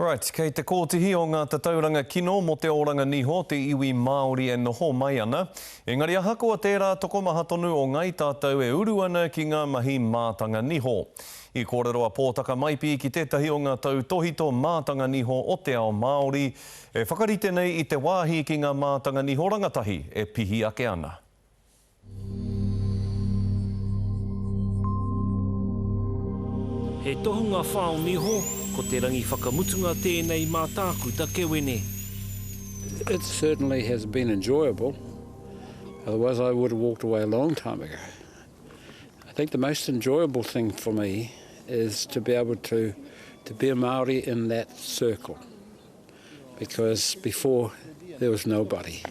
Right, kei te kōtihi o ngā tatauranga kino mō te oranga niho te iwi Māori e noho mai ana, engari ahakoa tērā tokomaha tonu o ngai tātou e uru ana ki ngā mahi mātanga niho. I kōrero a Pōtaka Maipi ki tētahi o ngā tautōhito mātanga niho o te ao Māori e whakarite nei i te wāhi ki ngā mātanga niho rangatahi e pihi ake ana. He tohunga whao niho, ko te rangi whakamutunga tēnei mā Tākuta Kewene. It certainly has been enjoyable, otherwise I would have walked away a long time ago. I think the most enjoyable thing for me is to be able to to be a Māori in that circle, because before there was nobody.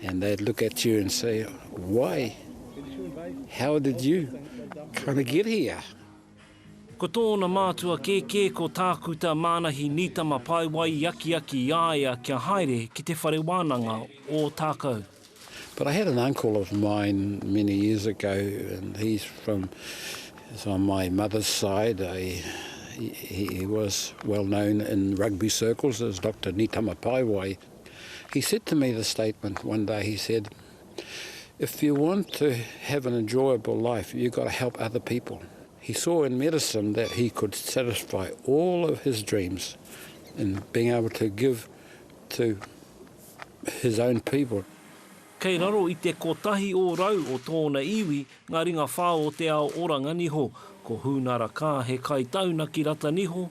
And they'd look at you and say, why? How did you kind of get here? Ko tōna mātua kēkē ko Tākuta Mānahi Nītama Paewai i akiaki i a ia kia haere ki te whare wānanga o Tākou. But I had an uncle of mine many years ago and he's from, he's on my mother's side, I, he, he was well known in rugby circles as Doctor Nītama Paewai. He said to me this statement one day, he said, If you want to have an enjoyable life, you've got to help other people. He saw in medicine that he could satisfy all of his dreams in being able to give to his own people. Kei raro i te kotahi ōrau o tōna iwi ngā ringa whao o te ao oranga niho. Ko Hūnara Kaa he kai taunaki rata niho,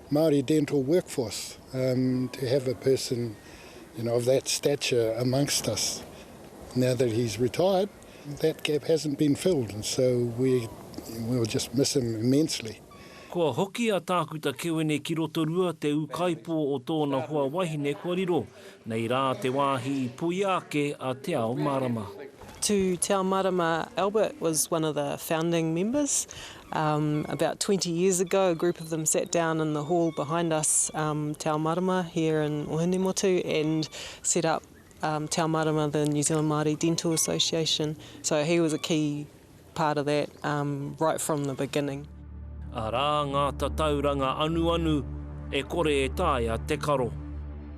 Māori dental workforce um to have a person you know of that stature amongst us now that he's retired that gap hasn't been filled and so we will just miss him immensely. Kua hoki a Tākuta Kewene ki Rotorua te ūkaipō o tōna hoa wahine kua riro, nei rā te wāhi i puia ake a Te Ao Marama. To Te Ao Marama, Albert was one of the founding members About twenty years ago a group of them sat down in the hall behind us Te Ao Marama here in Ohinemotu and set up Te Ao Marama the New Zealand Māori Dental Association so he was a key part of that right from the beginning. Arā ngā tatauranga anuanu e kore e taea te karo.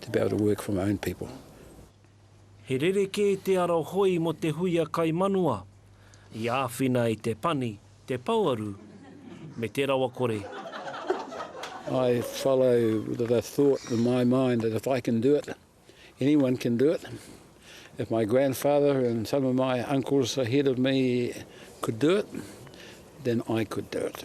to be able to work for my own people. He rerekē te ara hoi mō te huia kai manawa, i āwhina i te pani, te pouaru, me te rawakore. I follow the thought in my mind that if I can do it, anyone can do it. If my grandfather and some of my uncles ahead of me could do it, then I could do it.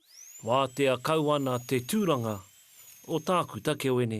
Wātea kau ana te tūranga o Tākuta Keoene.